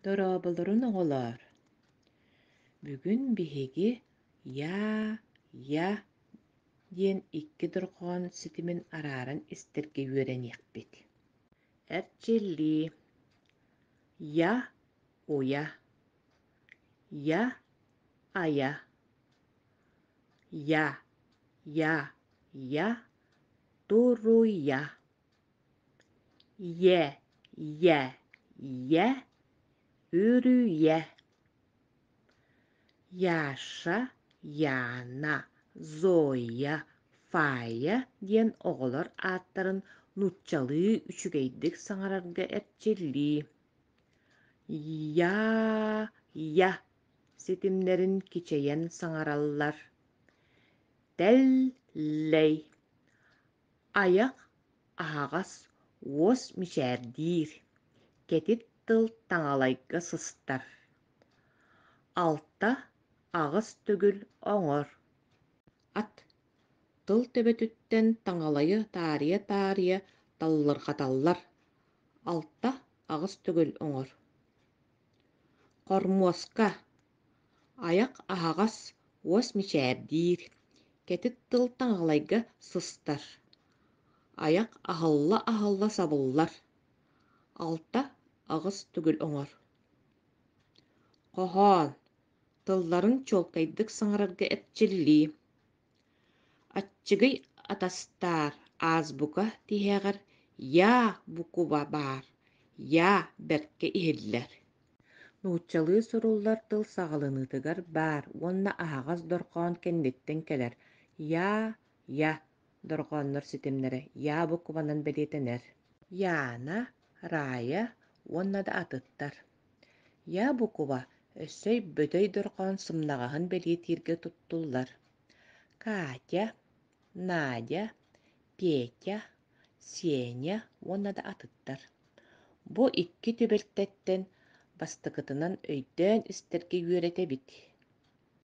Дорооболорун оҕолоор! Бүгүн биһиги «Yaa! Yaa!» диэн икки дорҕоон ситимин арааран истэргэ үөрэниэхпит. Эрчиллии. Я – уя. Я – ая. Я – я – я. Туруя. Иэ, ийэ, ийэ, үрүүйэ Яша, Яна, Зоя, Фая диэн оҕолор ааттарын нууччалыы үчүгэйдик саҥарарга эрчиллии Я-я ситимнэрин кичэйэн саҥараллар Тэл-лэй Айах аһаҕас, уос мичээрдиир, кэтит тыл таҥалайга сыстар. Алта аҕыс төгүл оҥор. Ат тыл төбөтүттэн таҥалайы таарыйа-таарыйа таллырҕаталлар. Алта аҕыс төгүл оҥор. Хормуоска Айах аһаҕас, уос мичээрдиир, кэтит тыл таҥаҕалайга сыстар. Айах аһылла-аһылла сабыллар. Алта аҕыс түгүл оҥор. Хоһоон тылларын чуолкайдык саҥарарга эрчиллии. Аччыгый атастаар аазбука тиһэҕэр «Йаа, букуба баар, йаа» бэркэ иһиллэр. Нууччалыы суруллар тыл саҕаланыытыгар баар уонна аһаҕас дорҕоон кэнниттэн кэлэр «Йаа, я» дорҕооннор ситимнэрэ «Йаа» букубанан бэлиэтэнэр. «Яна», «Рая» уонна да атыттар Ябукова өссө өйбөтөй дорҕоон сымнаҕаһын бэлиэтииргэ туттуллар. Катя, Надя, Петя, Сеня уонна да атыттар. Бу икки түбэлтэттэн бастакытынан өйдөөн истэргэ үөрэтэбит